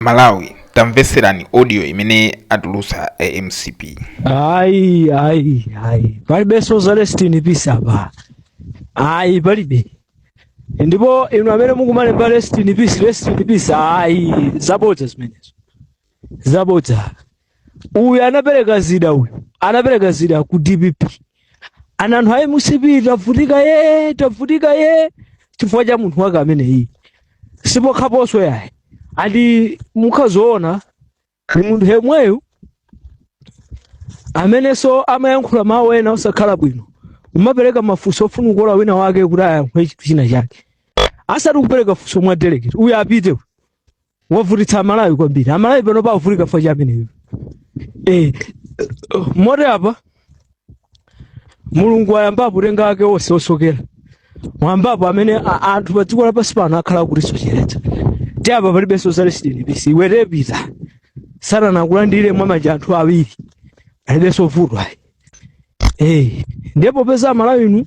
malawi tamveserani audio imene atulutsa a mcp ayi ayi ayi palibenso za rest in peace apa ayi palibe ndipo inu amene mukumalemba rest in peace rest in peace ayi zabodza zimenezo zabodza uyu anapereka zida uyu anapereka zida ku dpp ana anthu ayi mcp tavutika ye tavutika ye chifukwa cha munthu wake ameneyi si pokhaponso yayi ati mukazaona ni munthu yemweyo amenenso amayankhula mawu ena osakhala bwino umapereka mafunso ofuna kukola wina wake kuti ayankhule chinthu china chake asati kupereka funso mwa delegate uyu apite uyu. wavutitsa amalawi kwambiri amalawi pano pavutika chifukwa cha ameneyo eh, moti apa mulungu ayambapo kutenga ake onse osokera mwambapo amene a- anthu pa dziko lapansi pano akhala akutisocheretsa ti apa palibenso za rest in peace iwe pita satana akulandire mwa manja anthu awiri alibenso vuto ayi Eh, ndiye popeza amalawi inu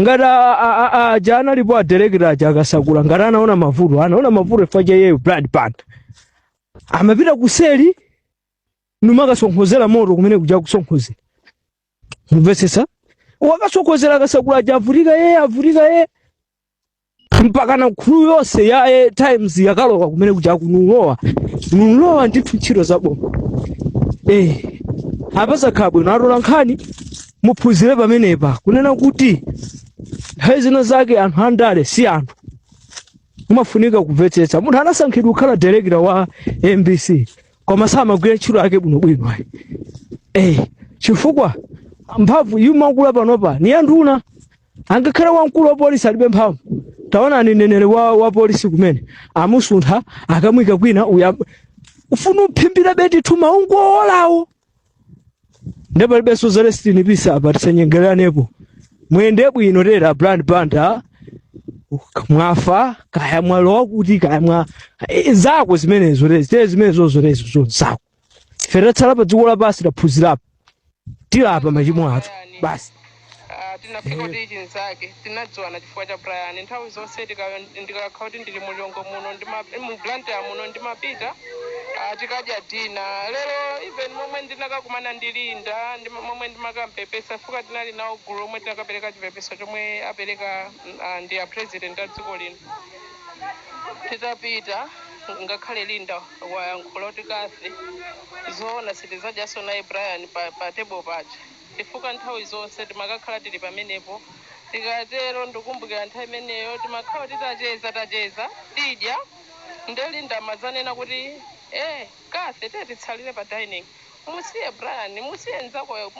ngati a- a- a- a- aja analipo adirekita aja akasakula ngati anaona mavuto anaona mavuto chifukwa cha iyeyo brian banda amapita kuseli nkumakasonkhezera moto kumene kuja kusonkhezera mumvetsetse wakasonkhezera akasakula aja avutika yeye avutika yeye mpakana crew yonse ya eh, times yakalowa kumene kuja akunulowa nulowa ndithu ntchito zaboma eh apa zakhala bwino atola nkhani muphunzire pamenepa kunena kuti nthawi zina zake anthu andale si anthu umafunika kumvetsetsa munthu anasankhidwa kukhala direkita wa mbc koma samagwira ntchito yake bwinobwino ayi eh chifukwa mphamvu yumakula panopa ni yanduna angakhale wamkulu wa polisi alibe mphamvu taonani mneneri wa, wa polisi kumene amusuntha akamuika kwina uya ufuna uphimbira beti thuma ungowolawo nde palibenso za rest in peace apa tisanyengererenepo muyende bwino tera brian banda mwafa kaya mwalowa kuti kaya mwa eh, zako zimenezo lezi te zimenezozo lezo zako ife atatsala pa dziko lapansi taphunzirapo tilapa machimo athu basi Ah, tinafika kuti pachinzake tinadziwana chifukwa cha brian nthawi zonse tika- ndikakhala kuti ndili mu lilongwe muno ndima- mu blantyre muno ndimapita ah, tikadya dinner lero even momwe ndinakakumana ndi linda momwe ndimakampepesa chifukwa tinali nawo gulu lomwe tinakapereka chipepeso chomwe apereka mm, ah, ndi a president a dziko lino titapita ngakhale linda wayankhula kuti Cathy zoona sitizadyaso naye Brian pa pa table paja chifukwa nthawi zonse timakakhala tili pamenepo tikatero ndukumbukira nthawi imeneyo timakhala kuti tacheza tacheza tidya nde Linda amadzanena kuti eeh Cathy tiye titsalire pa dining Musiye Brian, musiye nzakoyo,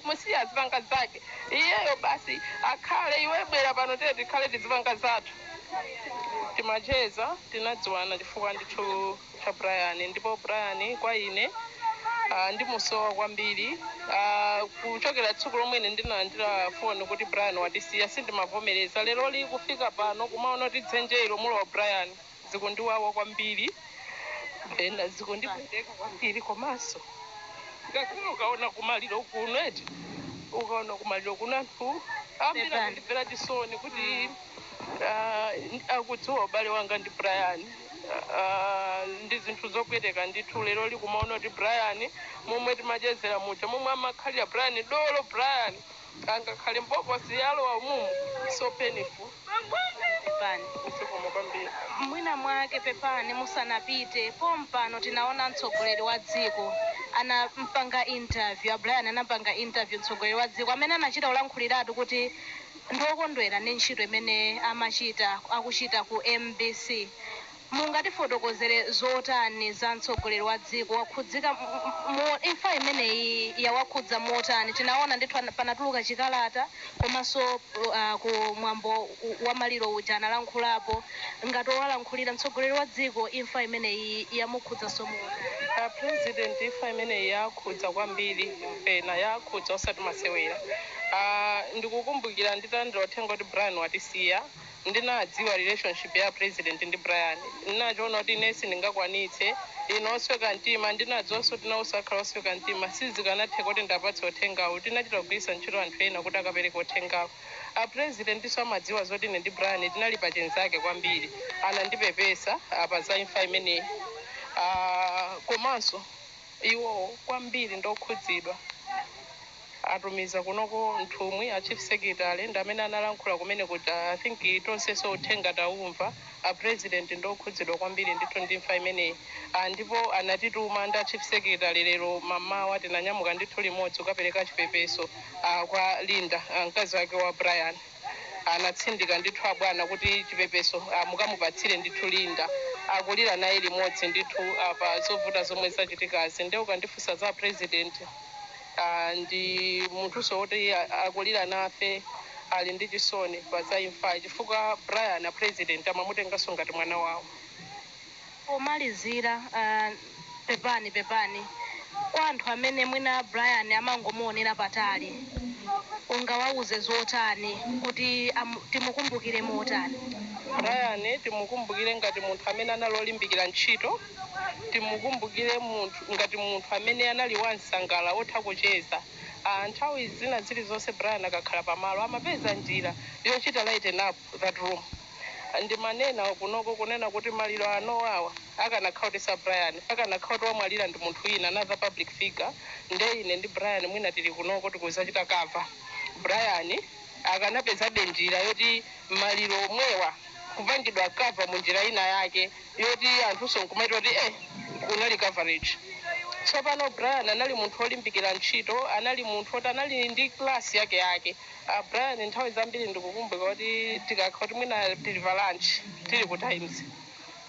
musiye azipanga zake iyeyo basi akhale, iwe bwera pano tiye tikhale tizipanga zathu. Timacheza, tinadziwana chifukwa ndithu cha Brian ndipo Brian kwa ine ah, ndimusowa kwambiri. Ah, kuchokera tsiku lomwe ine ndinalandira foni kuti Brian watisiya sindimavomereza. Lero lino kufika pano kumaona kuti dzenje ilo mulowa Brian. zikundiwawa kwambiri and zikundipweteka kwambiri komanso ngakhale ukaona kumaliro kuno eti ukaona kumaliro kuno anthu ambiri akundimvera chisoni kuti ah, akudziwa ubale wanga ndi brian Ah, ndi zinthu zopweteka ndithu lero lino kumaona kuti brian momwe timachezera muja momwe amakhalira brian dolo brian Angakhale mbokosi walowa umumu so painful. Pepani. Zikomo kwambiri. Mwina mwake pepani musanapite pompano tinaona mtsogoleri wa dziko anampanga interview a Brian anampanga interview mtsogoleri wa dziko amene anachita kulankhuliratu kuti ndi okondwera ndi ntchito imene amachita akuchita ku mbc Mungatifotokozere zotani za mtsogoleri wa dziko wakhudzika imfa imeneyi yawakhudza motani tinaona ndithu panatuluka chikalata komanso ku mwambo wa maliro uja analankhulapo ngati owalankhulira mtsogoleri wa dziko imfa imeneyi yamukhudzanso motani. A president imfa imeneyi yaakhudza kwambiri pena yaakhudza osati masewera aah ndikukumbukira nditalandira uthenga kuti Brian watisiya. ndinadziwa relationship ya president ndi Brian ndinachiona kuti ine sindingakwanitse ine osweka mtima ndinadziwanso kuti naonso akhala osweka mtima sizikanatheka kuti ndiapatse uthengawo tinachita kugwiritsa ntchito anthu ena kuti akapereke uthengawo a presidentinso amadziwa zoti ine ndi Brian tinali pa chinzake kwambiri anandipepesa apa za imfa imeneyi ah komanso iwowo kwambiri ndi okhudzidwa. atumiza kunoko nthumwi a chief secretary ndi amene analankhula kumene kuti i think tonseso uthenga taumva a president ndi okhudzidwa kwambiri ndithu ndi imfa imeneyi ah ndipo anatituma ndi a chief secretary lero mamawa tinanyamuka ndithu limodzi kukapereka chipepeso ah kwa Linda ah mkazi wake wa Brian anatsindika ndithu abwana kuti chipepeso ah mukamupatsire ndithu Linda akulira naye limodzi ndithu pa zovuta zomwe zachitikazi nde ukandifunsa za a president Ndi munthuso woti akulira nafe ali ndi chisoni pa za imfayi chifukwa Brian a president amamutenganso ngati mwana wawo. Pomalizira pepani pepani kwa anthu amene mwina Brian amangomuonera patali ungawauze zotani kuti timukumbukire motani? Brian timukumbukire ngati munthu amene anali olimbikira ntchito. Timukumbukire munthu ngati munthu amene anali wa nsangala wotha kucheza. Nthawi zina zilizonse Brian akakhala pa malo amapeza njira yochita lighten up that room. Ndimanena kunoko kunena kuti maliro anowawa akanakhala kuti si a Brian akanakhala kuti wamwalira ndi munthu wina another public figure nde ine ndi Brian mwina tili kunoko tikuzachita cover Brian akanapezabe njira yoti maliro omwewa kupangidwa cover mu njira ina yake. yoti anthunso nkumati kuti eh kunali coverage tsopano brian anali munthu olimbikira ntchito anali munthu oti anali ndi class yake yake uh, brian nthawi zambiri ndikukumbuka kuti tikakha kuti mwina tili pa lunch tili ku times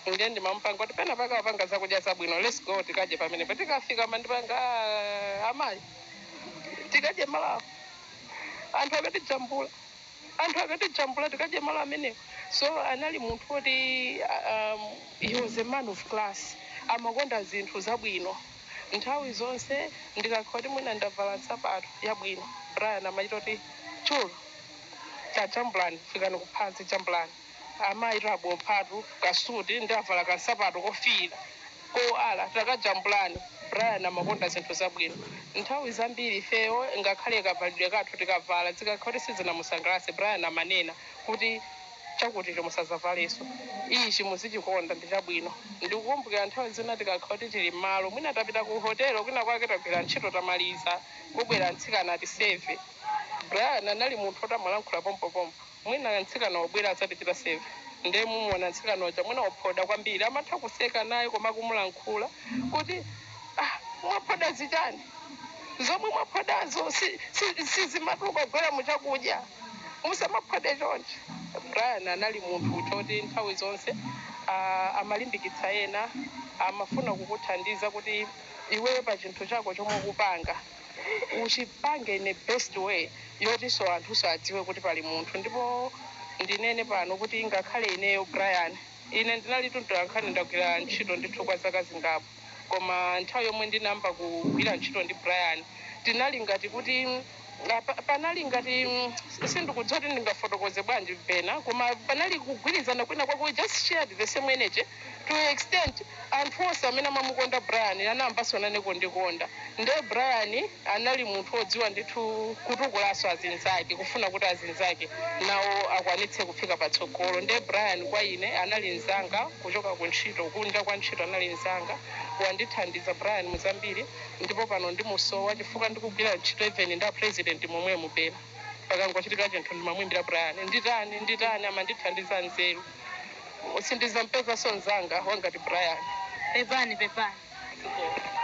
ndiye ndimamupanga kuti pena pake akupanga zakudya zabwino let's go tikadye pamenepo tikafika amandipanga "Ah, amayi tikadye malo awa anthu akatijambula anthu akatijambula tikadye malo amenewo so anali munthu oti um, he was a man of class amakonda zinthu zabwino nthawi zonse ndikakhala kuti mwina ndavala nsapato yabwino brian amachita kuti chulu tajambulani fikani kuphansi jambulani Amayi tabophatu kasuti ndavala kansapato kofiira kowala takajambulani Brian amakonda zinthu zabwino nthawi zambiri ifeyo ngakhale kavalidwe kathu tikavala zikakhala kuti sizinamusangalatse Brian amanena kuti chakuticho musazavalenso ichi muzichikonda ndi chabwino ndikukumbukira nthawi zina tikakhala kuti tili mmalo mwina tapita ku hotelo kwina kwake tagwira ntchito tamaliza kubwera mtsikana atiseve Brian anali munthu oti amalankhula pompopompo Mwina mtsikana wabwera adzatichita seva nde mumuona mtsikana uja mwina waphoda kwambiri amatha kuseka naye koma kumulankhula kuti ah mwaphoda zichani zomwe mwaphodazo si, si, sizimatuluka kugwera muchakudya musamaphode chonchi. Brian anali munthu woti nthawi zonse ah, amalimbikitsa ena amafuna kukuthandiza kuti iweyo pa chinthu chako chomwe ukupanga uchipange in a best way yotinso anthunso adziwe kuti pali munthu ndipo ndinene pano kuti ngakhale ineyo Brian ine ndinali mtolankhani ndagwira ntchito ndithu kwa zaka zingapo koma nthawi yomwe ndinayamba kugwira ntchito ndi Brian tinali ngati kuti ah, pa- panali ngati mm, sindikudziwa kuti ndingafotokoze bwanji pena koma panali kugwirizana kwina kwake we just shared the same energy to an extent anthu onse amene amamukonda Brian anayambanso nane kundikonda nde Brian anali munthu odziwa ndithu kutukulanso azinzake kufuna kuti azinzake nawo akwanitse kufika patsogolo nde Brian kwa ine anali nzanga kuchoka ku ntchito kunja kwa ntchito anali nzanga wandithandiza Brian mu zambiri ndipo pano ndimusowa chifukwa ndikugwira ntchito even ndi a president momwemu pena pakangochitika chinthu ndimamuimbira Brian nditani nditani amandithandiza nzeru Sindizampezanso nzanga wangati Brian. Pepani pepani.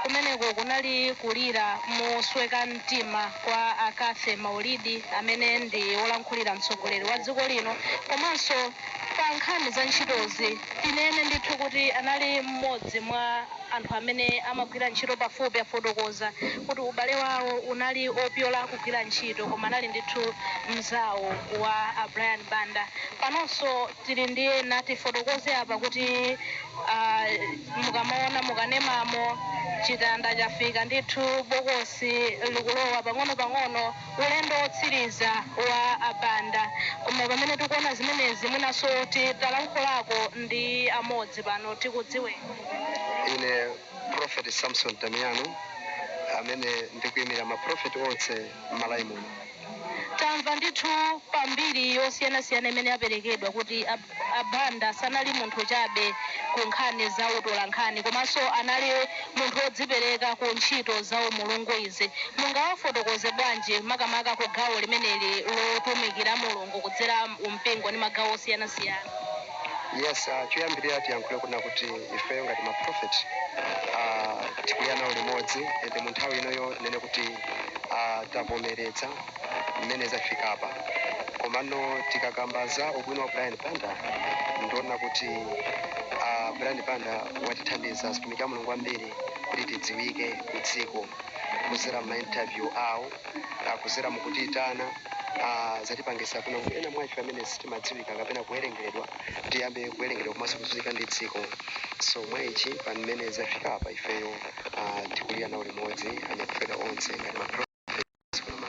Kumeneko kunali kulira mosweka mtima kwa a Cathy Maulidi amene ndi wolankhulira mtsogoleri wa dziko lino komanso pa nkhani za ntchitozi tinene ndithu kuti anali m'modzi mwa anthu amene amagwira ntchito pafupi afotokoza kuti ubale wawo unali opyola kugwira ntchito koma anali ndithu mzawo wa a Brian Banda. Panonso tili ndi ena tifotokoze apa kuti aah mukamaona mu kanemamo chitanda chafika ndithu bokosi likulowa pang'onopang'ono ulendo wotsiriza wa a Banda koma pamene tikuona zimenezi mwinanso titalankhulako ndi amodzi pano tikudziweni. Ine prophet Samson Damiano amene ndikuimira ma prophet onse m'Malawi muno. Tamva ndithu pa mbiri yosiyanasiyana imene yaperekedwa kuti a Banda sanali munthu chabe ku nkhani za utolankhani komanso anali munthu wodzipereka ku ntchito za umulungu izi mungawafotokoze bwanji makamaka ku gawo limeneli lotumikira Mulungu kudzera mu mpingo ndi magawo osiyanasiyana? Yes, ah, choyambirira tiyankhule kunena kuti ifeyo ngati ma prophet ah, tikulira nawo limodzi and mu nthawi inoyo tinene kuti a tavomeredza mmene zafikapa komano tikakamba za ubwino wa brian banda ndiona kuti a brian banda watithandiza azitumiki a mulungu ambiri kuti tidziwike ku dziko kuzera ma interview awo ah, kuzera mukutiyitana ah, zatipangisa kunena kuti ena mwa ife amene sitimadziwika kapena kuwerengeredwa tiyambe kuwerengedwa komanso kudziwika ndi dziko so mwaichi pamene zafika apa ifeyo uh, tikulira nawo limodzi anamfedwa onse ngati ma